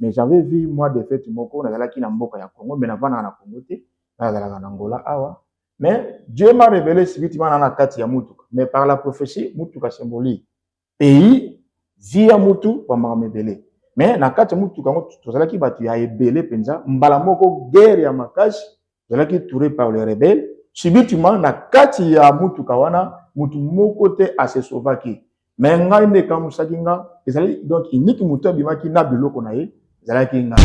mais j'avais vu moi de fete moko nazalaki na mboka ya Congo mais navandaka na Congo te nazalaka na Angola awa mais Dieu m'a révélé sibitima na na kati ya mutuka mais par la prophétie mutuka symbolique pays vie ya mutu kwa makambo ebele mais na kati ya mutuka yango tozalaki bato ya ebele mpenza mbala moko guerre ya makasi Zalaki touré par le rebelle subitement na kati ya mutuka wana mutu moko te a se sauvaki mais ngai nde ekamusaki nga ezali donc unique mutu abimaki na biloko na ye ezalaki nga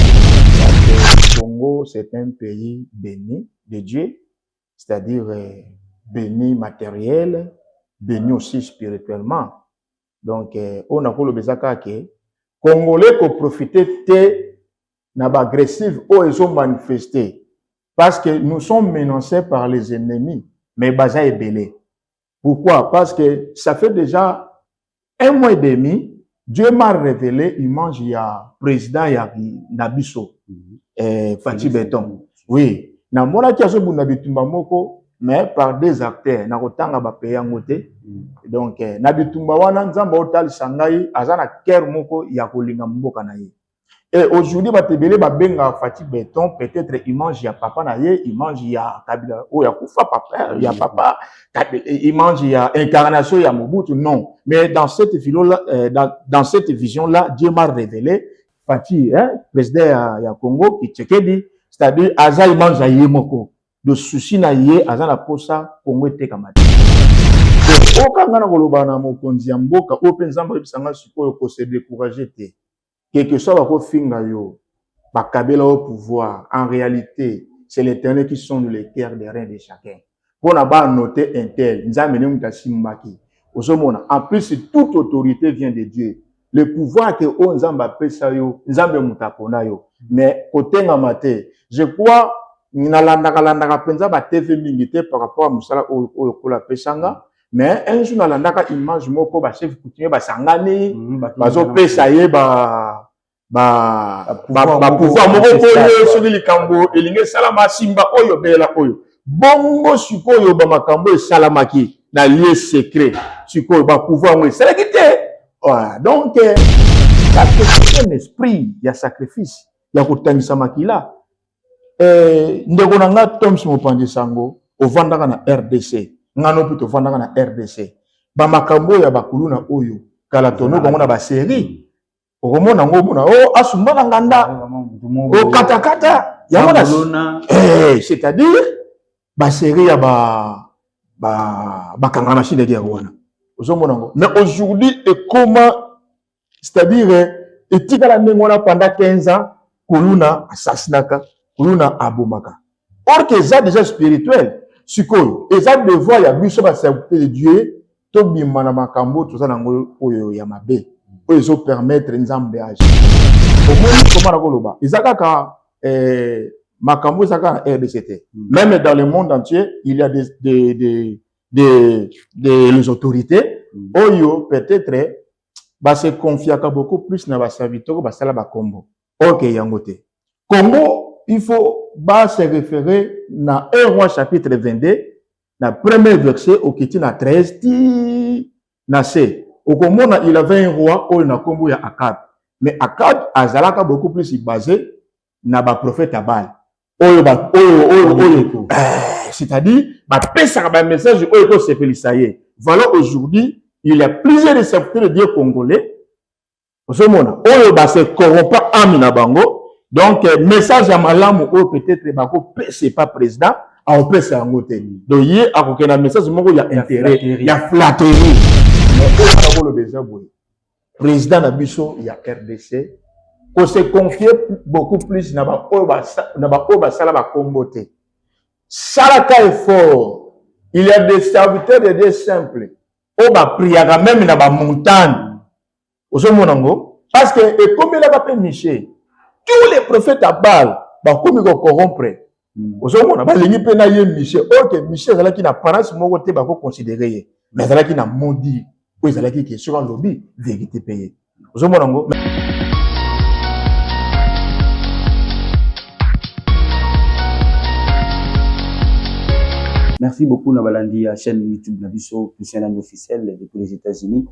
Congo c'est un pays béni de Dieu c'est-à-dire euh, béni matériel béni aussi spirituellement donc euh, oyo nakoloba eza kaka ke congolais koprofite te na ba agressive oyo ezo manifester parce que nous sommes menacés par les ennemis mais baza ebele pourquoi parce que ça fait déjà un mois et demi Dieu m'a révélé image ya président ya na biso mhm. eh, Fatih Beton oui namonaki azobunda bitumba moko mais par des acteurs nakotanga bapaye yango te mm. donc eh, na bitumba wana nzambe otalisa ngai aza na cœur moko ya kolinga mboka na ye Et aujourd'hui bato ebele babenga Fatshi Beton peut-être image ya papa na ye image ya Kabila oyo akufa papa ya papa image ya incarnation ya Mobutu non mais dans cette philo là euh, dans, dans cette vision là Dieu m'a révélé Fatshi hein, président ya, ya Congo Kitshekedi c'est-à-dire aza image ya ye moko de souci na ye aza na posa Congo etekama te okanga na koloba na mokonzi ya mboka oyo mpe Nzambe ayebisa ngai sikoyo ko se décourager te quelque soit bakofinga yo bakabela yo pouvoir en réalité c'est l'éternel qui sonde le cœur de rien de chacun mpo na banote intel nzambe nde moto asimbaki ozomona en plus toute autorité vient de dieu le pouvoir ke oyo nzambe apesa yo nzambe moto apona yo mais kotengama te je crois nalandaka landaka mpenza batv mingi te par rapport ya mosala oyo oyo kola apesanga mais un jour nalandaka image moko ba chef coutumier basangani mhm, bazopesa ye ba bapouvoir moko boye soki likambo elingi esalama simba oyo belela oyo bongo sikoyo bamakambo esalamaki na lieu secret sikoyo bapouvoir yango esalaki te ah, donc euh, un esprit ya sacrifice ya kotangisa makila Eh, ndeko na nga Toms Mopanzi Sango, ovandaka na RDC. Nga no mpe tovandaka na RDC. Ba makambo ya bakuluna oyo kala tono bango na ba série. Okomona ngo mona oh asumba na nganda. Oh kata kata. Yango na eh c'est-à-dire ba série ya ba ba bakangana shinde dia wana. Ozomona ngo. Mais aujourd'hui ekoma c'est-à-dire etikala ndenge wana pendant 15 ans kuluna assassinaka kuluna abomaka or que eza déjà spirituel sikoyo eza devoir ya biso baserviteur de dieu tobima na makambo toza nango oyo ya mabe oyo ezopermettre nzambe age omoni koma nakoloba eza kaka eh, makambo eza kaka na rdc te mm. même dans le monde entier il y a des, des, des, des, des, des autorités mm. oyo peut-être ba se confiaka beaucoup plus na ba serviteurs basala ba kombo or que yango te Congo il faut ba se référer na 1 roi chapitre 22 na premier verset okiti na 13 ti na se okomona il avait un roi oyo na kombo ya Akab mais Akab azalaka beaucoup plus basé na ba prophète ya bale oyo ba oyo oyo oyo eh, c'est-à-dire ba pesaka ba message oyo ko sepelisa ye voilà aujourd'hui il y a plusieurs récepteurs de Dieu congolais ozomona oyo ba se corrompa âme na bango donc eh, message ya malamu oyo peut-être bako pesa pas président akopesa yango te donc ye akokenda message moko ya intérêt ya flatterie mais oyo bakoloba eza boye President na biso ya RDC ko se confier beaucoup plus na ba oyo ba na ba oyo basala ba kombo te. Salaka effort. Il y a des serviteurs de Dieu simples oyo ba priaka meme na ba montagne. Ozomona ngo parce que ekomelaka pe Michel. Tous les prophètes à Baal bakomi ko corrompre Mm. ozomona balingi mpe na ye misie oke misie azalaki na parence moko te bakoconsidere ye me azalaki na modi oyo ezalaki ke soki alobi verité mpe ye ozomona yango Merci beaucoup na balandi ya chaîne YouTube na biso Christian Land officiel depuis les États-Unis.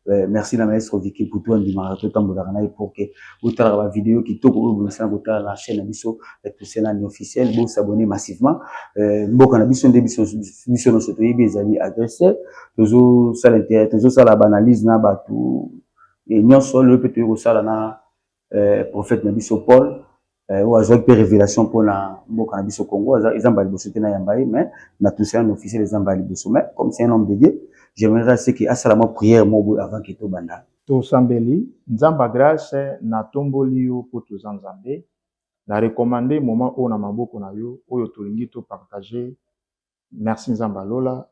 Euh, merci na maestro Vicky Poutou andimaka totambolaka na ye pour que botalaka ba video kitoko oyo bomisana kotala na chaîne na biso euh, Toselani officiel bo s'abonner massivement euh, mboka na biso nde biso biso nyonso toyebi ezali agresseur tozosala intérêt tozosala baanalyse na bato nyonso lelo mpe toyei kosala na eh, prophète na biso Paul eh, oyo azwaki mpe révélation mpo na mboka na biso Congo eza mbala liboso te nayamba ye mais na tousa un officiel eza mbala liboso mais comme c'est un homme de Dieu j'aimerais ce que asala mwa prière moko boye avant ke tobanda tosambeli nzambe ya grace natomboli yo mpo toza nzambe na recommande moment oyo na maboko na yo oyo tolingi topartage Merci Nzambe ya Lola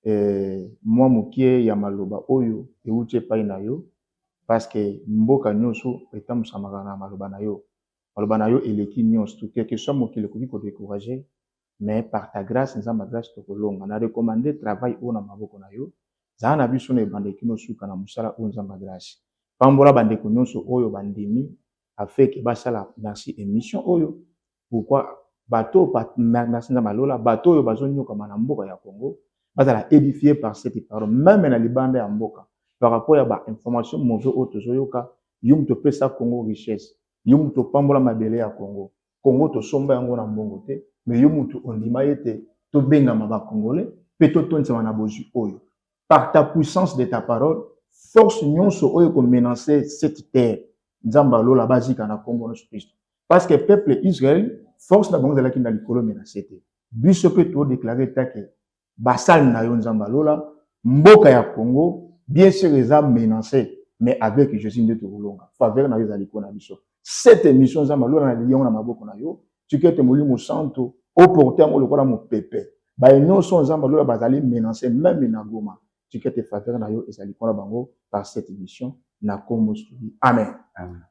eh, mwa mokie ya maloba oyo euti epai na yo paske mboka nyonso etambusamaka na maloba na yo. Maloba na yo eleki nyonso tu quelque soit mokili ekoki kodecourage mais par ta grâce Nzambe ya grâce tokolonga. Na recommande travail oyo na maboko na yo, zala na biso na ebandeli kino suka na mosala oyo Nzambe ya grâce. Pambola bandeko nyonso oyo bandimi afeke basala merci emission oyo pourquoi bato merci nzambe alola bato oyo bazonyokama na mboka ya congo bazala édifie par ce qui parle meme na libanda ya mboka par rapport ya bainformation mauvais oyo tozoyoka yo moto opesa congo richesse yo moto opambola mabele ya congo congo tosomba yango na mbongo te mais yo moto ondima ye te tobengama bacongolais mpe totondisama na bozwi oyo par ta puissance de ta parole force nyonso oyo ekomenance cette terre nzambe alola bazika na nkombo na yesu kristo parce que peuple Israël force na bango ezalaki na likolo mais na se te biso mpe todeklare eta ke basali na yo nzambe alola mboka ya congo bien sur eza menance mais avec jésus nde tokolonga faveur na yo ezali mpo na biso cette émission nzambe alola na liyango na maboko na yo tiki ete molimo santo oporte yango lokola mopepe baye nyonso nzambe alola bazali menance meme na goma tiki ete faveur na yo ezali mpo na bango par cette émission na kombo soki amen, amen.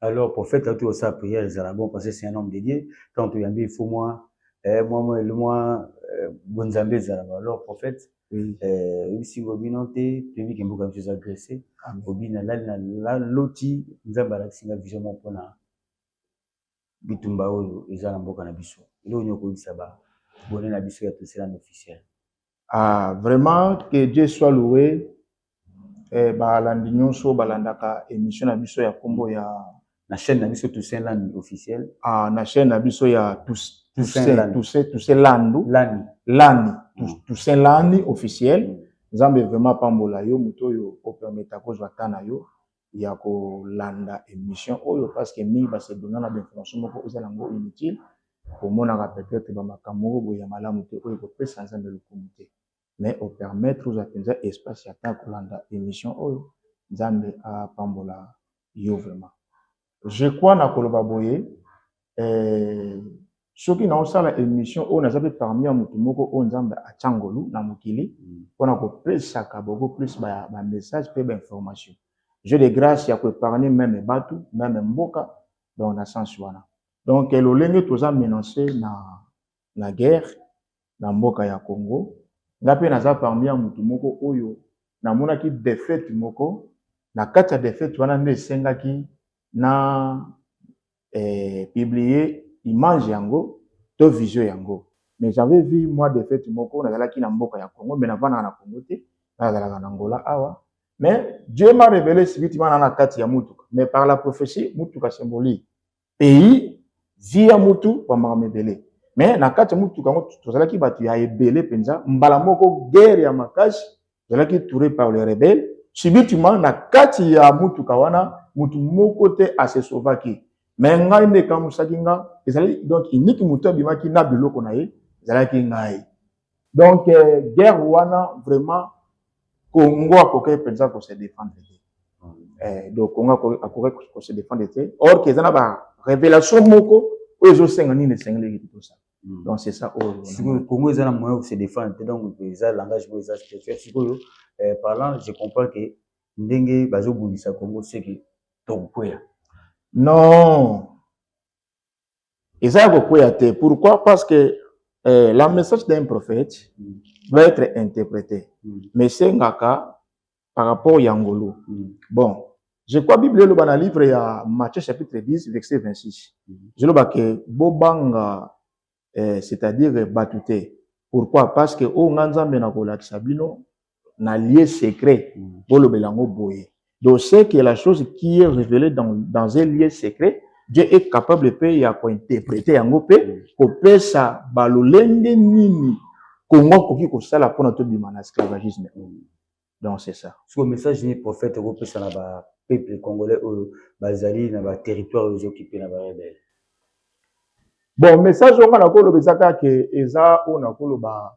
alors prophète auti kosala prière ezala bon parce que c'est un homme de dieu ntango toyambi il faut mwa eh, mwa mwa mwa eh, bonzambe ezalaka alors prophète eh, oyebisi ngo bino te toyebi ke mboka biso eza grese obi nalali na loti nzambe alakisi nga vision moko mpona bitumba oyo eza na mboka na biso eloko nini okoyebisa ba bone na biso ya toselana officiel Ah, vraiment, que Dieu soit loué. Eh, balandi nyonso balandaka émission na biso ya kombo ya na chaîne na biso Toussaint Land officiel. Ah, na chaîne na biso ya Tous, Toussaint Toussaint Land. Toussaint Toussaint Landu Lani. Lani Tous- Mm. Toussaint Lani officiel. Mm. Nzambe vraiment apambola yo moto oyo opermeta kozwa temps na yo ya ko landa emission oyo parce que mingi ba se donna na ba informations moko oza na ngo inutile omonaka peut etre ba makambo moko boye ya malamu te oyo eko pesa nzambe lokumu te mais o permettre ozwa penza espace ya temps ya ko landa emission oyo nzambe a pambola yo vraiment je crois na koloba boye eh, soki naosala émission oyo naza mpe parmi ya motu moko oyo nzambe atya ngolu na mokili mpo mm. na kopesaka beaucoup plus bamessage ba mpe bainformation je de grâce ya koépargne meme bato meme mboka donc na sens wana donc lolenge toza menance na la guerre na mboka ya Congo nga pe naza parmi ya mutu moko oyo namonaki defaite moko na kati ya defaite wana nde esengaki na eh, publie image yango to vision yango mais j'avais vu moi defaite moko nazalaki na mboka ya Congo mais navandaka na Congo te nazalaka na Angola awa mais Dieu m'a révélé sibitima na na kati ya mutuka mais par la prophétie mutuka symbolique pays vie ya mutu bambakama ebele me na kati ya motuka yango tozalaki bato ya ebele mpenza mbala moko guerre ya makasi tozalaki touré par le rebelle subitement na kati ya motuka wana motu moko te asesovaki me ngai nde ekamusaki nga ezali donc iniki motu abimaki na biloko na ye ezalaki ngai donc euh, guerre wana vraiment congo akokaki mpenza ko se défendre te hmm. eh, donc congo akokaki ko se défendre te or que eza na ba révélation moko oyo ezosenga nini esengeleki te tosala hmm. donc c'est ça oyo sikoyo congo eza na moyen ko se défendre te donc eza langage boyo eza spécial sikoyo eh, parlant je comprends que ndenge bazobundisa congo seke tokokwea non eza ya kokweya te pourquoi parce que euh, la message d'un prophète mm. doit être interprété mm. mais esengaka par rapport ya ngolu mm. bon je crois bible eloba na livre ya matthieu chapitre 10 verset 26 mm. eloba ke bobanga euh, c'est-à-dire bato te pourquoi parce que oyo oh, nga nzambe nakolakisa bino na lieu secret mm. bolobela yango boye donc c'est que la chose qui est révélée dans, dans un lieu secret Dieu est capable mpe ya kointerprete yango mpe mm. kopesa balolenge nini kongo akoki kosala mpona tobima na esclavagisme oyo mm. donc c'est ça siko message nini prophète okopesa na ba peuple congolais oyo bazali na ba territoire oyo ezokipe na barebele bon message oyo nga nakoloba ezaka ke eza oyo nakoloba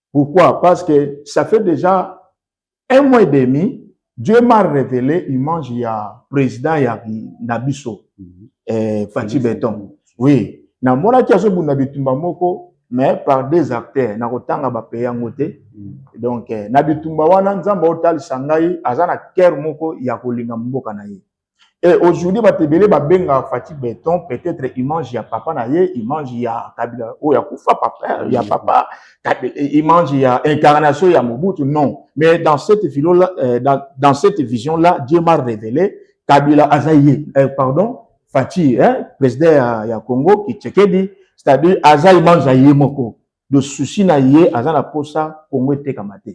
Pourquoi Parce que ça fait déjà un mois et demi, Dieu m'a révélé image il y a président il y a Nabiso, mm -hmm. eh, Fatih Beton. Oui, na mona ki azo bunda bitumba moko mais par des acteurs na kotanga ba paye yango te. Mm. Donc eh, na bitumba wana nzamba otalisa ngai aza na cœur moko ya kolinga mboka na ye. Et aujourd'hui bato ebele babenga Fatshi Beton peut-être image ya papa na ye image ya Kabila oyo akufa papa ya papa image ya incarnation ya Mobutu non mais dans cette philo là euh, dans, dans cette vision là Dieu m'a révélé Kabila aza ye euh, pardon Fatshi hein, président ya, ya Congo Kitshekedi c'est-à-dire aza image ya ye moko de souci na ye aza na posa Congo etekama te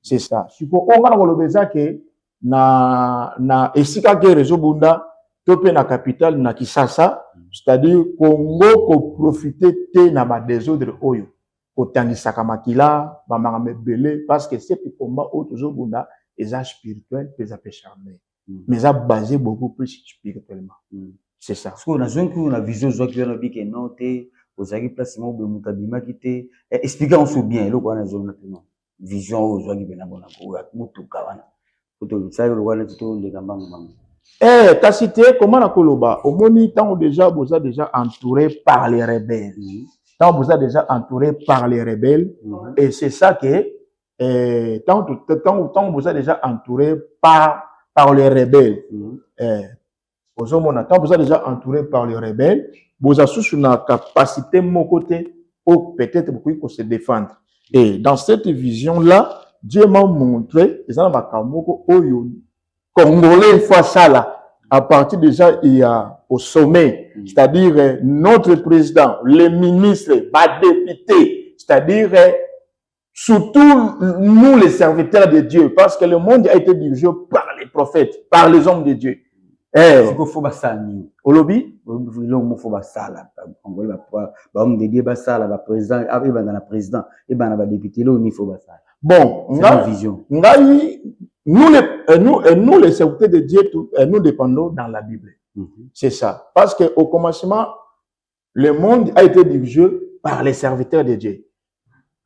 c'est ça siko oyo nga na koloba eza ke na, na esika guerre ezobunda to mpe na capitale na Kisasa c'est-à-dire Congo koprofite te na badesordre oyo kotangisaka makila bamakambo ebele parce que ce combat oyo tozobunda eza spirituel mpe eza mpe charnel mm. mais eza basé beaucoup plus spirituellement mm. c'est ça sikoyo nazwaki kuna na vision ozwaki wana obi ke non te ozalaki place moko boye moto abimaki te eh, explike yango so bien eloko wana ezonga te non vision oyo ozwaki mpena mpona koya motuka wana otosali lokola neti toleka mbangu mbangu Eh, kasi te koma na koloba omoni ntango deja boza deja entouré par les rebelles mhm. ntango boza deja entouré par les rebelles mhm. et c'est ça que eh, ntango boza deja entouré par, par les rebelles mhm. eh, Ozo mona tant boza déjà entouré par les rebelles, boza susu na capacité moko te ou peut-être bokoki ko se défendre. Et dans cette vision là, Dieu m'a montré eza na makambo moko oyo congolais faut asala à partir déjà il y a au sommet, mm. c'est-à-dire euh, notre président, les ministres, les députés, c'est-à-dire euh, Surtout nous les serviteurs de Dieu, parce que le monde a été dirigé par les prophètes, par les hommes de Dieu. Eh, sikoyo fo basala nini olobi eloko moko fo basala angoli bahomme de dieu basala baprésident ah, ebanda na président ebanda badepute eloko nini fo basala bon vision ngai nous les, euh, nous, euh, nous les serviteurs de dieu euh, nous dépendons dans la bible mm -hmm. c'est ça parce que au commencement le monde a été dirigé par les serviteurs de Dieu.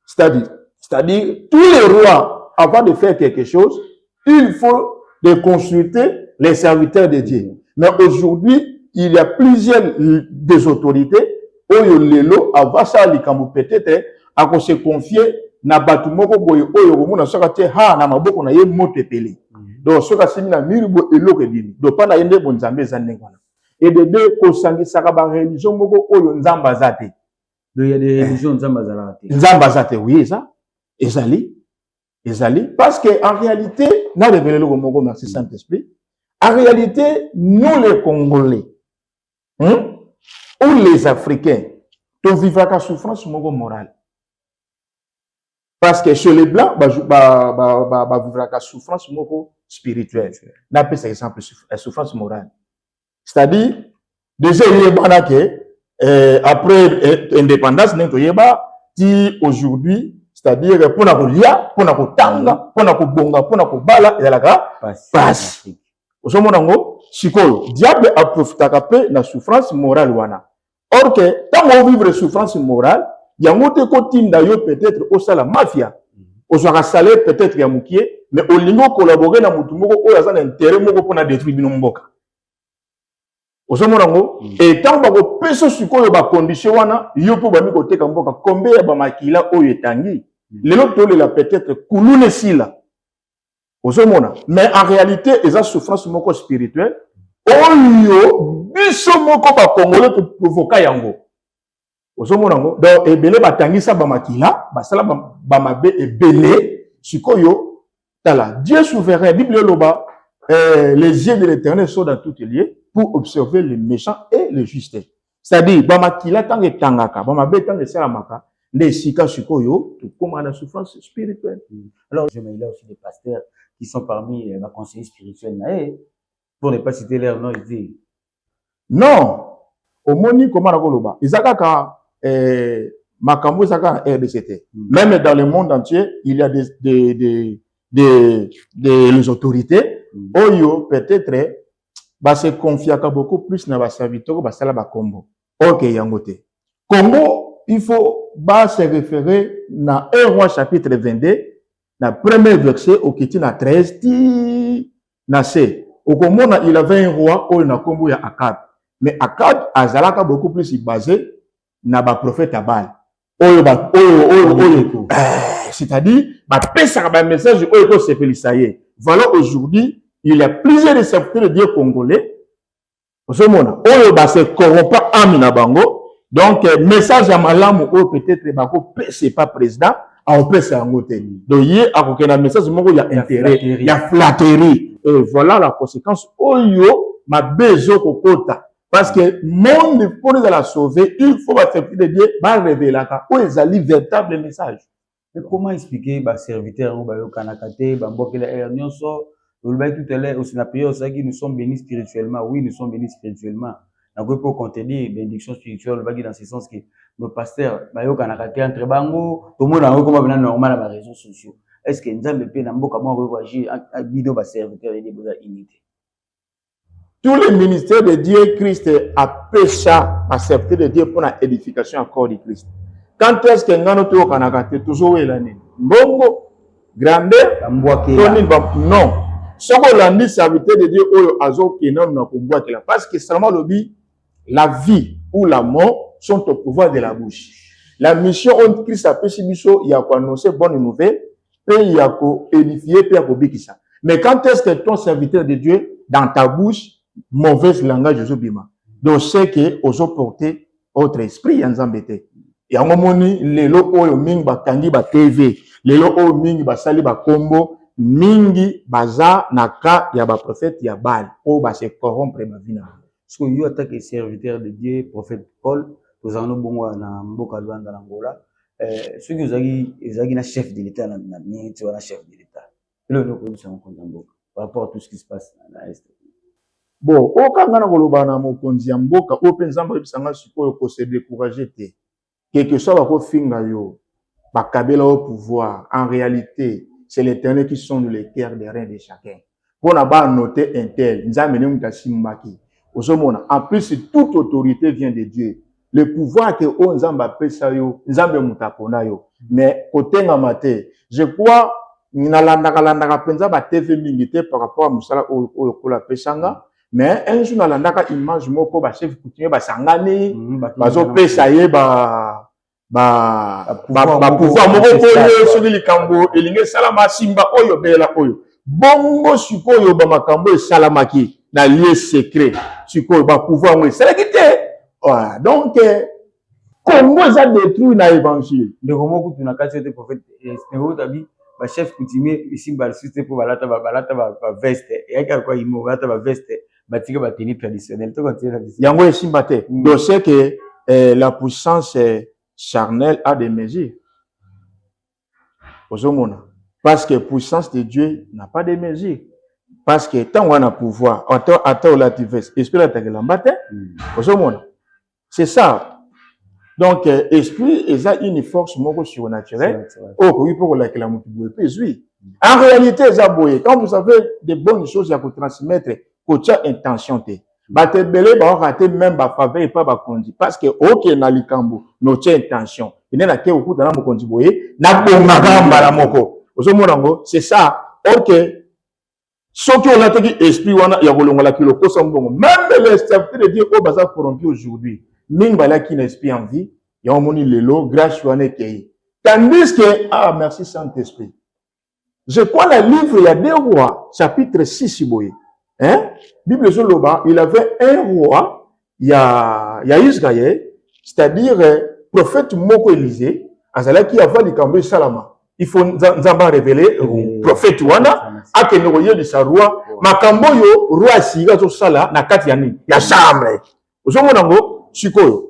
C'est-à-dire, c'est-à-dire, tous les rois, avant de faire quelque chose, il faut de consulter les serviteurs de Dieu. Mais aujourd'hui, il y a plusieurs des autorités, oyo lelo, avant ça, les peut-être, à se confier na bato moko boye oyo okomona soki atie ha na maboko na ye moto epeli mhm. donc soki asimi na miri boye eloko ebimi donc mpa na ye nde bonzambe eza ndenge wana ebebe kosangisaka bareligio moko oyo nzambe aza te nzambe aza te wi eza ezali ezali parce que en réalité narevele eloko moko merci saint esprit en réalité nous les congolais hein, ou les africains tovivaka souffrance moko morale parce que chez les blancs bavivraka souffrance moko spirituelle napesa exemple euh, souffrance morale c'est-à-dire déjà eyebana ke euh, après euh, indépendance ndenge toyeba ti aujourd'hui c'est-à-dire mpo na kolia mpo na kotanga mpo na kobonga mpo na kobala ezalaka mpasi ozomona yango sikoyo diable aprofitaka mpe na souffrance morale wana or que ntango ovivre souffrance morale yango te ekotinda yo peut-être osala mafia mhm. ozwaka salaire peut-être ya mokie mais olingi okolabore na motu moko oyo aza na intérêt moko mpo na détruire bino mboka ozomona yango mm. e ntango bakopesa sikoyo bacondition wana yo mpe obandi koteka mboka kombe ya bamakila oyo etangi mm. lelo tolela peut-être kuluna esila ozomona mais en réalité eza souffrance moko spirituelle oyo biso moko bakongole koprovoka yango ozomona yango donc ebele batangisa bamakila basala bamabe ebele sikoyo tala dieu souverain bible eloba eh, les yeux de l'éternel sont dans toutes lieux pour observer les méchants et les justes cetadire bamakila ntango etangaka bamabe ntango esalamaka nde esika sikoyo tokoma na souffrance spirituelle mm. alors je maila aussi des pasteurs qui sont parmi euh, baconseiller spirituel na ye pour ne pas citer leur nom ete non omoni koma na koloba eza kaka eh, makambo eza kaka na rdc te mm. même dans le monde entier il y a des, des, des, des, des les autorités mm. oyo peut-être ba se confiaka beaucoup plus na ba serviteurs basala ba kombo or que yango te Congo il faut ba se référer na 1 roi chapitre 22 na premier verset okiti na 13 ti na se okomona il avait un roi oyo na kombo ya Akab mais Akab azalaka beaucoup plus basé na ba prophète ya bale oyo ba oyo oyo oyo eh, c'est-à-dire ba pesaka ba message oyo ko sepelisa ye voilà aujourd'hui il y a plusieurs récepteurs de Dieu congolais ozomona oyo ba se corrompa âme na bango donc eh, message ya malamu oyo peut-être bako pesa pas président akopesa yango te donc ye akokenda message moko ya intérêt ya flatterie et voilà la conséquence oyo mabe ezokokota parce que monde mpo ezala sauve il faut baserviteur de dieu barevelaka oyo ezali véritable message mais comment expliquer baserviteur yango bayokanaka te bambokela heure nyonso olobaki tout à l'heure aussi na prière osalaki nous sommes bénis spirituellement oui nous sommes bénis spirituellement nakoki mpo contredire bénédiction spirituelle olobaki dans ce sens que nos pasteurs bayokanaka te entre bango tomona yango ekoma pena normal na baréseaux sociaux est ce que nzambe mpe na mboka moko akoki koagir bino baserviteur ede boza unité tous les ministères de Dieu, Christ apesa ba serviteurs de Dieu mpona edification ya corps du Christ. Quand est-ce que ngano toyokanaka te tozowela nini mbongo grandeur to nini non soki olandi serviteur de Dieu oyo azokende nanu na kobwakela parce que salama alobi La vie ou la mort sont au pouvoir de la bouche. La mission oyo Christ apesi biso ya ko annoncer bonne nouvelle pe ya ko édifier pe ya ko bikisa. Mais quand est-ce que ton serviteur de Dieu dans ta bouche mauvaise langage ozo bima. Donc c'est que ozo porter autre esprit ya Nzambe te. Yango moni lelo oyo mingi bakangi ba TV. Lelo oyo mingi basali ba kombo mingi baza na cas ya ba prophète ya Baal oyo ba se corrompre ba vie na bango. Siko yo ata ke serviteur de Dieu prophète Paul tozala no bongo na mboka Luanda na Angola euh, soki ozalaki ezalaki na chef de l'etat na na minute wana chef de l'etat elo ndio koyebisa mokonzi ya mboka par rapport à tout ce qui se passe na est bo okanga na koloba na mokonzi ya mboka oyo mpe nzambe oyebisa ngai sikoyo kose décourage te quelque soit bakofinga yo bakabela yo pouvoir en réalité c'est l'éternel qui sonde le cœur de rien de chacun mpo na banote intel nzambe nde moto asimbaki ozomona en plus toute autorité vient de dieu le pouvoir ke oyo nzambe apesa yo nzambe moto apona yo mais kotengama te je crois nalandaka landaka mpenza batv mingi te par rapport ya mosala oyo oyo kola apesanga mais un jour nalandaka image moko ba chef coutumier basangani mhm, bazopesa ye ba bapouvoir moko boye soki likambo elingi esalama simba oyo belela oyo bongo sikoyo bamakambo esalamaki na lieu secret sikoyo bapouvoir yango esalaki te donc Congo eza detruit na evangile. Ndeko moko kutu na kati yote prophète eh, ndeko tabi ba chef coutumier ici ba site pour balata ba balata ba veste et avec quoi ils m'ont balata ba veste batika ba tenue traditionnelle to continuer na yango esimba te mm. donc c'est que eh, la puissance eh, charnelle a des mesures ozomona parce que puissance de dieu n'a pas de mesure parce que ntango wana pouvoir ata, ata olati veste esprit elataka elamba te mm. ozomona c'est ça donc euh, esprit eza une force moko surnaturelle oyo okoki mpe kolakela moto boye mpe ezwi mm. en réalité eza boye quand vous avez de bonnes choses ya kotransmettre kotya intention te bato ebele baoka te meme bafaveur epa bakonzi parce que okende na likambo notie intention ene nake kokuta na mokonzi boye nabongaka mbala moko ozomona yango c'est ça ok soki olataki esprit wana ya kolongola kilo kosa mbongo meme les serviteurs de dieu oyo baza corrompu aujourd'hui mingi balaki na esprit en vie yango omoni lelo grace wana ekei tandis que ah merci saint esprit Je crois na livre ya deux rois chapitre 6 boye. Hein? Bible ezoloba il avait un roi ya ya Israël, c'est-à-dire euh, prophète moko Élisée azalaki avant likambo esalama. Il faut Nzambe révéler euh, mm. prophète wana akende koyebisa roi makambo oyo roi asika azosala na kati ya nini ya chambre ozomona yango sikoyo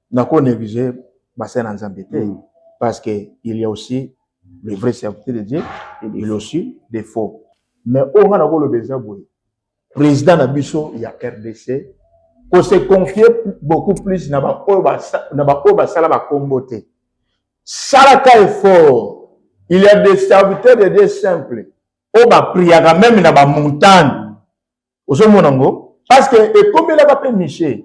na ko negliger basali na nzambe te mm. parce que il y a aussi le vrai serviteur de dieu il y a aussi des faux mais oyo nga nakoloba eza boye président na biso ya rdc kose confie beaucoup plus na baoyo basala bakombo te salaka effort il y a des serviteurs de dieu simple oyo bapriaka meme na bamontagne ozomona ngo parce que ekomelaka mpe miche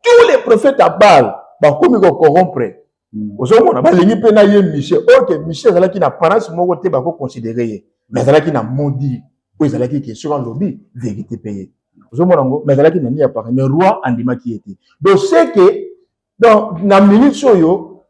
tous les prophètes à bale bakomi kokorompre hmm. ozomona balingi mpe na ye miche oke miche ezalaki na parence moko te bakoconsidere ye mais azalaki na modi oyo ezalaki ke soki alobi verité mpe ye ozomona ngo mais azalaki na nini ya parence mais roi andimaki ye te donc seke donc na minute oyo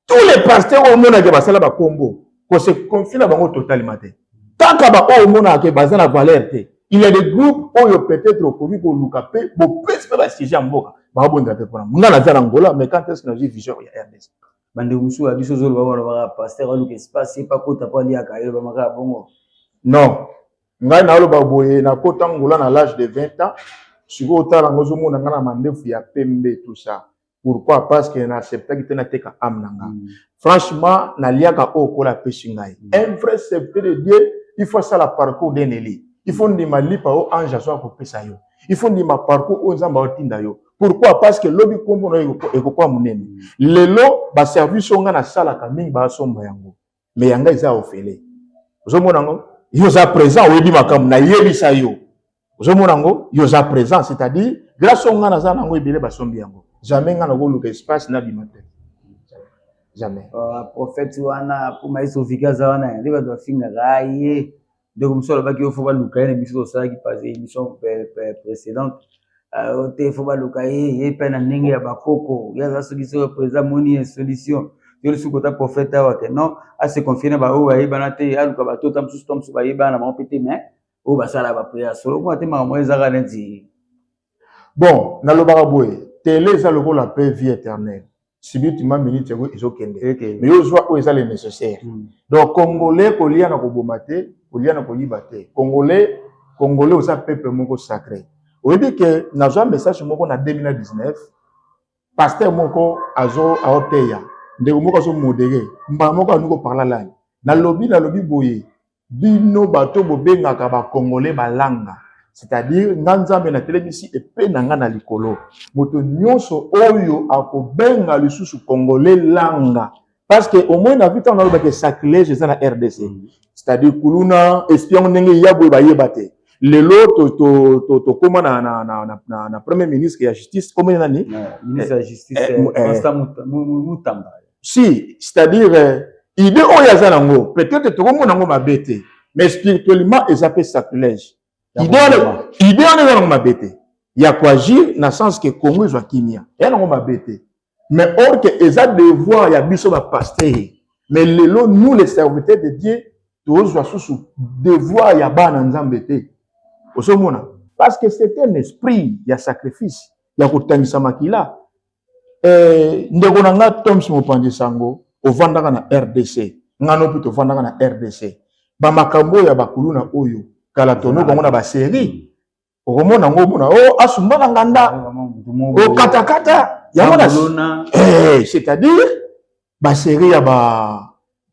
tous les pasteurs oyo omonaka ke basala bakombo kose confie na bango totalement te kaka baoyo omonaka ke baza na valeur te il y a des groupes oyo peut-être okoki koluka mpe bopesi mpe basiege ya mboka babondela mpe mpona nga naza na angola mais quand est-ce que nazwi vision ya rdc bandeko mosusu ya biso zolo bawana baka pasteur aluka espace ye pakota mpo aliaka ye bamaka ya bongo non ngai naoloba boye nakota ngola na l'age de 20 ans sikoyo otala yango ozomona ngai na mandefu ya pembe tout ça Pourquoi? Parce que na acceptaki te nateka âme na nga. Mm. Franchement, naliaka oyo kola apesi ngai. Mm. Un vrai serviteur de Dieu, il faut asala parcours d'un élu. Il faut ndima lipa oyo ange azwa kopesa yo. Il faut ndima parcours oyo Nzambe aotinda yo. Pourquoi? Parce que lobi kombo na yo ekokuwa monene. Mm. Lelo ba service oyo ngai nasalaka mingi basomba yango. mais ya ngai eza ofele ozomona yango yo oza présent oyebi makambo nayebisa yo ozomona yango yo oza présent c'est-à-dire grâce o ngai naza na yango ebele basombi yango jamais ngai nakoluka espace nabima te jamais oh, prophète wana po maïs ofiki aza wana nde bato bafingaka ye ndeko mosusu alobaki yo fo baluka ye na biso tosalaki pase émission précédente euh, te fo baluka ye ye mpe na ndenge ya bakoko ye aza soki soki président moni ye solution yo lisusu kota prophète awa ke non ase confie na baoyo bayebana te aluka bato ta mosusu to mosusu bayebana na bango mpe te mais oyo basala baprière solo kuna te makambo ezaka neti bon nalobaka boye tele eza lokola mpe vie éternelle subitement minute yango ezokende mais yo ozwa oyo eza le nécessaire hmm. donc congolais kolia na koboma te kolia na koyiba te congolais congolais oza peuple moko sacré oyebi ke nazwa message moko na 2019 pasteur moko azo aoteya ndeko moko azomodere mbala moko alingi koparla lani nalobi nalobi boye bino bato bobengaka bakongole balanga c'est-à-dire nga nzambe natelemisi epe na nga na likolo moto nyonso oyo akobenga lisusu kongole langa parce que omoi na vita na olobaka sacrilège eza na rdc c'est-à-dire kuluna espion ndenge ya boye bayeba te lelo tokóma na, na, na, na, na, na premier ministre ya justice kombe nani eh, eh, eh, si c'est-à-dire euh, idée oyo aza nango peut-être tokomona yango mabe te mais spirituellement eza mpe sacrilège idée wana eza nango mabe te ya koagir na sens ke congo ezwa kimia eya nango mabe te mais or ke eza devoir ya biso bapastere mais lelo nous les serviteurs de dieu tozwa susu devoir ya bana nzambe te ozomona parce que c'est un esprit ya sacrifice ya kotangisa makila Eh, ndeko na nga Toms Mopanzi Sango, ovandaka na RDC. Nga no mpe tovandaka na RDC. Ba makambo ya bakuluna oyo kala tono bango na ba série. Okomona ngo mona oh asumba na nganda. Oh kata kata. Yango na eh c'est-à-dire ba série ya ba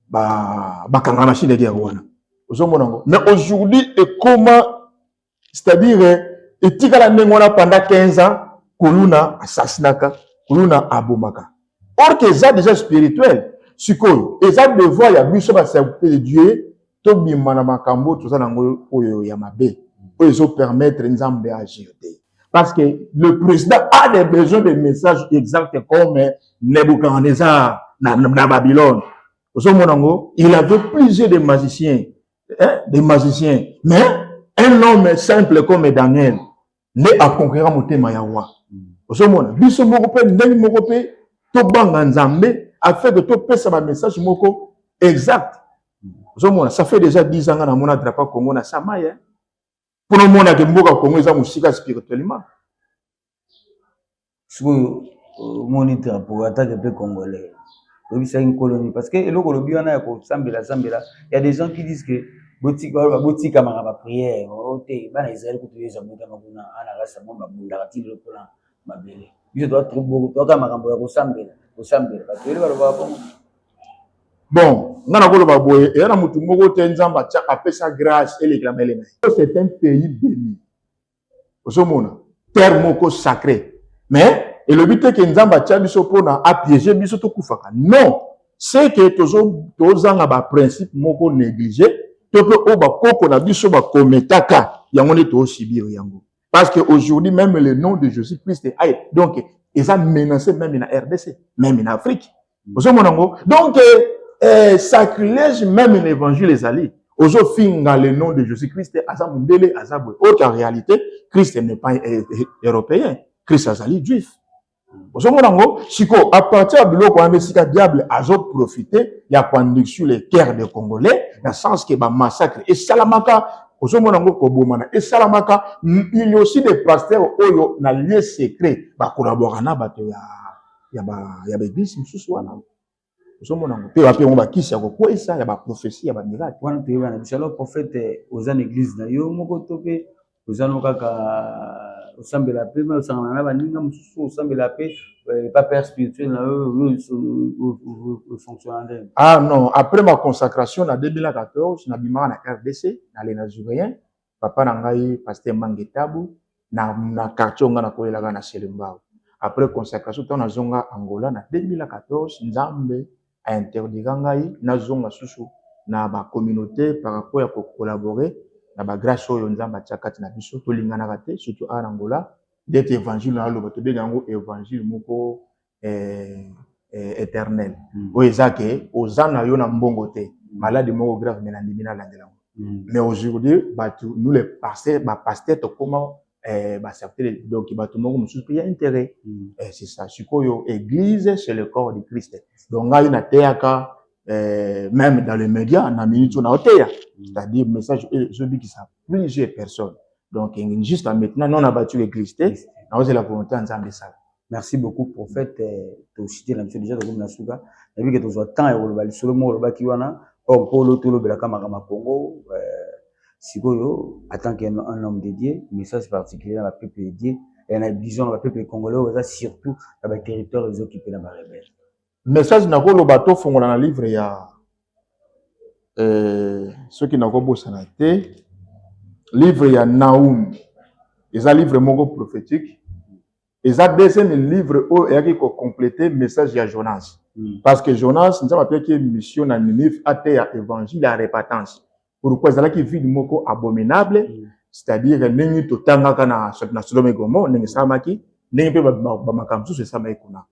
ba bakanga na shinde ya wana. Ozomona ngo. Mais aujourd'hui ekoma c'est-à-dire etikala ndenge wana pendant 15 ans kuluna assassinaka kuluna abomaka or que eza déjà spirituel sikoyo eza devoir ya biso baserviteur de dieu tobima na makambo toza nango oyo ya mabe oyo ezopermettre nzambe agir te parce que le président a des besoins de messages exacts comme nebuchadnezzar na, na babylone ozomona yango il avait plusieurs de magiciens hein, des magiciens mais un homme simple comme daniel nde akonquera motema ya roi ozomona biso moko mpe ndenge moko mpe tobanga nzambe afin que topesa bamessage moko exact ozomona ça fait déjà 10 ans nga namona drapeau congo na samaya pona omona ke mboka congo eza mosika spirituellement sikoyo omoni euh, drapo atake mpe congolais oyebisaki nkoloni parce que eloko olobi wana ya kosambela sambela ya des gens qui disent que botikamaka bapriere o oh, te bana israel kutu yesu abotama kuna ana rasa mwa babundaka ti lelo mpona mabele biso toaka makambo ya kosambela kosambela bato ele balobaka bongo Bon, nga na koloba boye, eza na mutu moko te Nzambe atia apesa grace elekela mele na ye. C'est un pays béni. Ozomona? Terre moko sacré. Mais elobi te ke Nzambe atia biso pona a piéger biso tokufaka. Non! C'est que tozo tozanga ba principe moko négliger to pe oyo bakoko na biso bakometaka yango nde too subir yango. Parce que aujourd'hui même le nom de Jésus-Christ aye donc eza menacé même na RDC, même na Afrique. Mm. Ozo mona ngo donc eh, sacrilège même na évangile ezali. Ozo finga le nom de Jésus-Christ aza mundele aza boye. Autre réalité, Christ n'est pas eh, eh, européen. Christ azali juif. ozomona yango sikoyo apartir ya biloko wana nde esika diable azoprofite ya koandiksu le cœur de congolais na sens ke bamassacre esalamaka ozomona yango kobomana esalamaka il y aussi des pasteurs oyo na lieu secret bakolaboraka na bato ya, ya baeglise mosusu wana ozomona yango mpe wapi yango bakisi ya kokweyisa ya baprofesi ya bamiraki wana toyeba na biso alors prophète oza na église na yo moko to mpe oza no kaka osambela mpe me osangana na baninga mosusu osambela mpe eh, pa père spirituel na yo fonctionna ndenge ah non après ma consacration na 2014 nabimaka na rdc na lena jurien papa na ngai pasteur mange tabu na, na quartier onga na koyelaka na selembao après consacration ntango nazonga angola na 2014 nzambe a interdira ngai nazonga susu na bacommunauté par rapport ya kocollabore na bagrace oyo nzambe atia kati na biso tolinganaka te surtout awa na angola ndeti evangile na aloba tobenga yango evangile moko eh, eh, éternel mm. oyo eza ke oza na yo na mbongo te mm. maladi moko grave me nandimi nalandela yango mm. mais aujourd'hui bato nous les pasteur bapaster tokoma eh, basertele donc bato moko mosusu mpe ya intérêt mm. eh, c'est ça sikoyo église c'est le corps de christ donc ngai nateyaka eh, même dans les médias na minute oyo naoteya mm. c'est-à-dire message oyo ezobikisa plusieurs personnes donc juste maintenant non na batu église te naozela volonté ya nzambe esala Merci beaucoup prophète toshite na biso déjà tokomi na suka nayebi ke tozwa temps ya koloba lisolo moko olobaki wana or mpo olo tolobelaka makambo ya congo euh, sikoyo en tant qu'un un homme de dieu message particulier na bapeuple de dieu ya na bison na bapeuple congolais oyo baza surtout na baterritoire ezokipe na barebele message nakoloba tofongola na livre ya euh, soki nakobosana te livre ya naum eza livre moko prophétique eza deuxième livre oyo eyaki ko completer message ya Jonas mm. parce que Jonas nzambe apesaki ye mission na Ninive ateya évangile ya repentance pourquoi ezalaki ville moko abominable mm. c'est-à-dire ndenge totangaka na, na Sodome et Gomorrhe ndenge esalamaki ndenge mpe bamakambo mosusu esalamaki kuna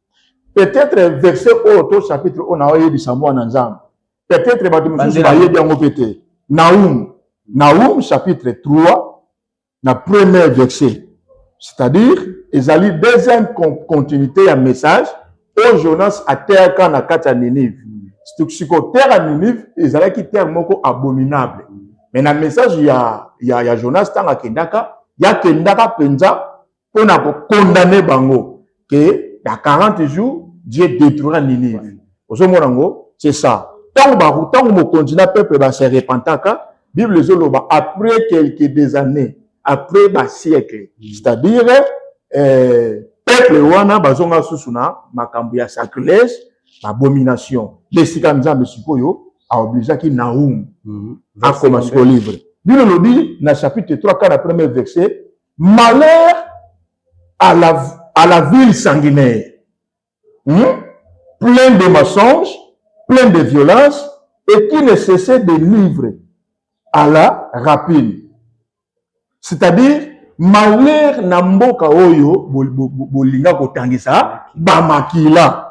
peut-être verset oyo to chapitre oyo na oyebisa mwana nzambe peut-être bato mosusu bayebi yango mpe te Naum Naum chapitre 3 na premier verset c'est-à-dire ezali deuxième continuité ya message oyo jonas ateyaka na kati ya ninive sikoyo terre ya ninive ezalaki terre moko abominable mais na message ya, ya, ya jonas ntango akendaka ye akendaka mpenza mpo na kokondane bango ke na 40 jours die detruira ninive ozomona yango c'est ça ntango baku ntango mokonzi na peuple base repentaka bible ezoloba après quelques des années après basiècle c'est-à-dire euh, peuple wana bazonga susu na makambo ya sacrilège babomination nde esika nzambe sikoyo aobligeaki naum mhm. akoma sikoyo livre bino lobi na chapitre 3 kaka na premier verset Malheur à la, à la ville sanguinaire, hmm? plein de mensonges, plein de violence et qui ne cessait de livrer à la rapine. C'est-à-dire, malheur na mboka oyo bolinga kotangisa bamakila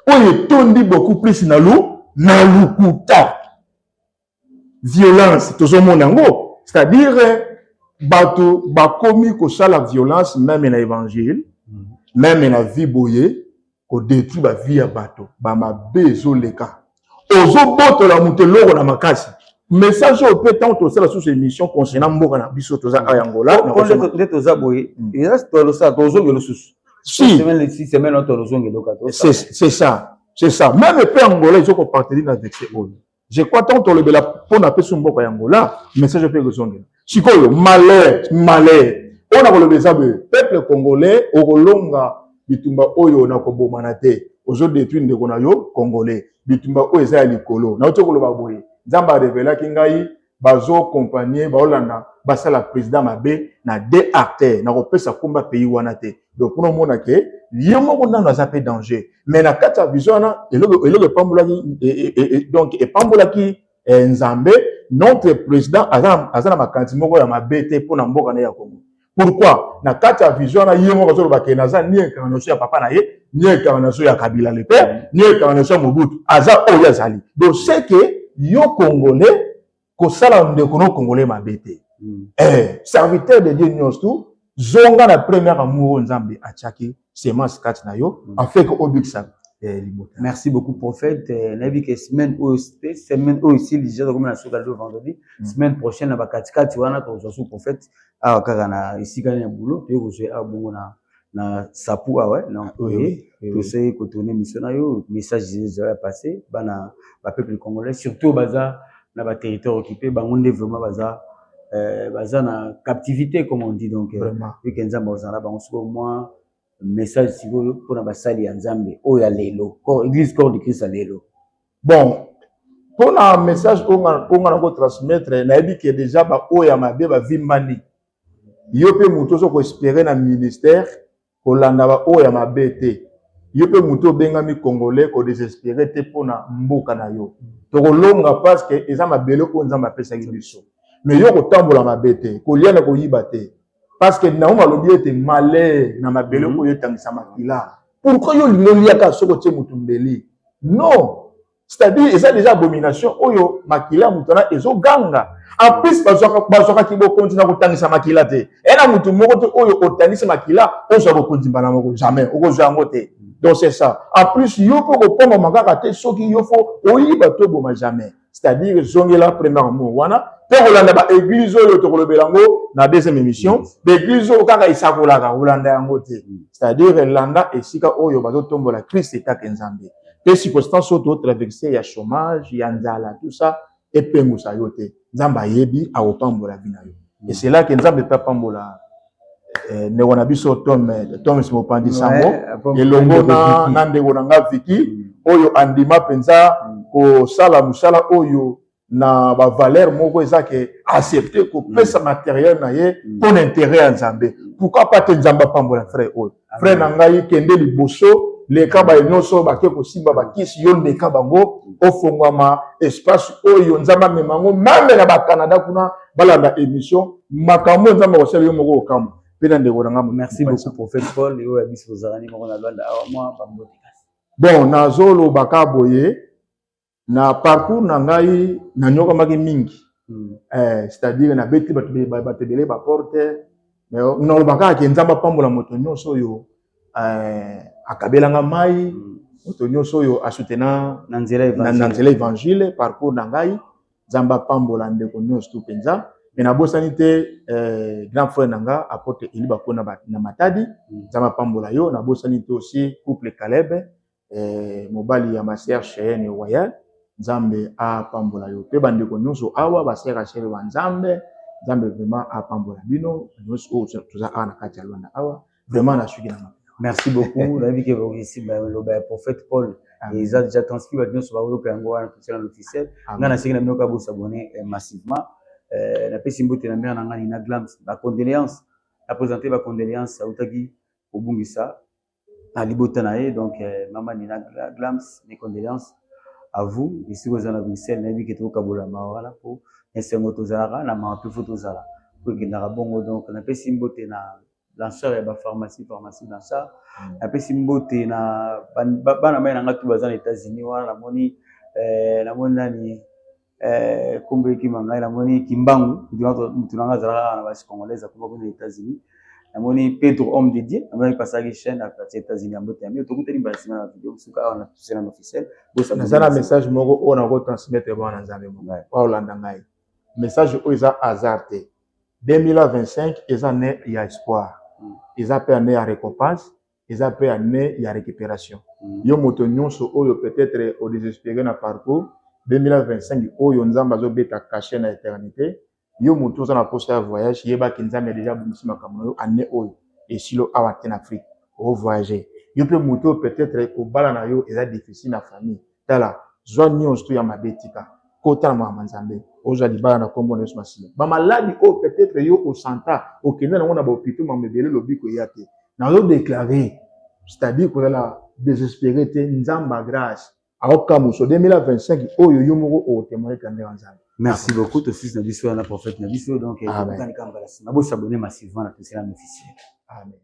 oyo etondi beaucoup plus na lu na lukuta violence tozomona yango c'est-à-dire bato bakomi kosala violence meme na évangile meme na vie boye kodetruire bavie ya bato bamabe ezoleka ozobotola moto eloko na makasi message oyo mpe ntango tosala susu émission concernant mboka na biso toza a yangola nde toza boye mm. eza tolosala tozongela susu si c'est ça c'est ça meme mpe angola ezokopartenir na vexe oyo je crois tant tolobela mpo na peso mboka ya ngola message mpe ekozongela sikoyo malheur malheur oyo nakoloba eza boye peuple congolais okolonga bitumba oyo na kobomana te ozo detruire ndeko na yo congolais bitumba oyo eza ya likolo nauti koloba boye nzambe arevelaki ngai bazo compagnie baolanda basala president mabe na de artère na kopesa komba pays wana te donc kuna omona ke ye moko nano aza pe danger mais na kati ya vision wana eloko eloko epambolaki e, e, e, donc epambolaki eh, nzambe notre president aza, aza na makanisi moko ya mabe te mpo na mboka na ye ya kongo pourquoi na kati ya vision wana ye moko azoloba ke naza ni incarnation ya papa na ye ni incarnation ya kabila le père mm. ni incarnation ya mobutu aza oyo azali donc c'est que yo congolais kosala ndeko no congolais mabe te mm. eh, serviteur de dieu nyonso tu zonga na première amour oyo nzambe atiaki semence kati na yo mm. afeke obikisa eh, libota merci beaucoup prophète eh, nayebi ke semaine oyo te semaine oyo esili deja tokomi na soki alelo vendredi mm. semaine prochaine na bakatikati wana tokozwa su prophète awa kaka na esika na boulot toye kozwa awa bongo na na sapu awa donc tosei kotourne mission na yo message ezala passe bana bapeuple congolais surtout baza na baterritoire occupé bango nde vraiment baza euh, baza na captivité comme on dit donc euh, eke nzambe akozala na bango sikoyo mwa message sikoyo mpona basali ya nzambe oyo ya lelo église corps de christ ya lelo bon mpona message oyo nga na kotransmettre nayebi ke deja baoyo ya mabe bavimbani yo mpe moto ozo koespere na ministère kolanda ba oyo ya mabe te yo mpe moto obengami congolais ko desespere te mpo na mboka na yo tokolonga parce que eza mabele oyo nzambe apesaki biso mais yo kotambola mabe te kolia na koyiba te parce que naomi alobi ete malheur na mabele mhm. oyo etangisa makila pourquoi yo olingi oliaka soki otie moto mbeli non c'est-à-dire eza deja abomination oyo makila ya moto wana ezoganga en plus bazwaka kibokonzi na kotangisa makila te ena moto moko te oyo otangisi makila ozwa bokonzi mbala moko jamais okozwa yango te donc c'est ça en plus yo mpe okopongama kaka te soki yo fo oyiba to oboma jamais c'est-à-dire ezongela première mot wana mpe kolanda baeglize oyo tokolobela yango na deuxième émission baeglize oyo kaka esakolaka kolanda yango te c'est-à-dire elanda esika oyo bazotombola krist etake nzambe mpe circonstance oyo totraverse ya chômage ya nzala tout ça epengusa yo te nzambe ayebi akopambola vi na yo et c'est là que nzambe mpe apambola eh, ndeko na biso tom eh, toms mopandi sango elongo na, na ndeko na nga viki mm. oyo andima mpenza mm. kosala mosala oyo na ba valeur moko eza ke accepter kopesa mm. matériel na ye mm. mpo na intérêt ya nzambe pourquoi pas te nzambe apambola frère oyo frère na ngai kende liboso leka baye nyonso bake kosimba bakisi yo ndeka bango mm. ofongwama espace oyo nzambe amema yango mame na bacanada kuna balanda émission makambo oyo nzambe akosala yo moko okambo mpe na ndeko na ngambo merci beaucoup prophète paul oyo ya biso ozalani moko na lwanda awa mwa bambote bon nazolobaka boye Na parcours na ngai nanyokamaki mingi mm. eh, c'est-à-dire nabeti bato ebele baporte naloba kaka ke nzambe apambola moto nyonso oyo eh, akabela nga mai mm. moto nyonso oyo asutena na nzela evangile parcours na ngai nzambe apambola ndeko nyonso tu mpenza me nabosani te eh, grand frère na nga apotre eli bakona na matadi mm. nzambe apambola yo nabosani te osi couple calebe eh, mobali ya master Cheyenne Royal Nzambe apambola yo pe bandeko nyonso awa basera shere wa Nzambe Nzambe vraiment apambola bino nyonso oyo oh, toza awa na kati ya Luanda awa vraiment na suki na merci beaucoup nayebi ke baokisi baloba ya prophète Paul eza déjà transcrit bato nyonso baoyoka yango wana totia na officiel ngai nasengi na bino kaka bosabone eh, massivement eh, napesi mbote na mare na ngai na glams bacondoléance apresente bacondoléance autaki kobungisa na libota na ye donc euh, mama nina glams mes condoléances à vous esika oza na bruxelles nayebi ke tokokabola mawa wana mpo na esengo tozalaka na mawa mpe fo tozala mpo ekendaka bongo donc napesi mbote na lanceur ya bapharmacie pharmacie lanceur mm. napesi mbote na bana mai na ngai tu baza na états-unis wana namoni euh, namoni nani Eh, kombo ekima ngai namoni kimbangu mutu nanga azalaka kaka na basi congolaise akoma kuna na états-unis namoni pedro homme de dieu namoni pasaki chaîne ya quartier états-unis ya mbote yamio tokutani mbala nsima na video mosuka awa na tusena na officiel naza na message moko oyo nako transmettre bana na nzambe moko baolanda ngai message oyo eza hasard te 2025 eza ne ya espoir hmm. eza mpe ane ya récompense eza pe annee ya recuperation mm. yo moto nyonso oyo peut-être au desespere na parcours 2025 oyo nzambe azobeta cachet na eternité yo moto oza na posa ya voyage yebaki nzambe deja abongisi makambo na yo année oyo esilo awa te na afrique ovoyage yo mpe moto oyo peut-être kobala na yo eza difficile na famille Tala, zwa nyonso to ya mabe tika. Kota na makambo ya Nzambe. Ozwa libala na kombo na Yesu Masiya. Ba maladi oyo peut-être yo o santa, okenda na ngo na ba hopitaux makambo ebele lobiko eya te. Na zo declarer, c'est-à-dire kozala desespere te, Nzambe ya grace akokamusa 2025 oyo yo moko o témoigner grandeur ya Nzambe. Merci beaucoup to fils na biso na prophète na biso donc. Amen. Amen. Amen.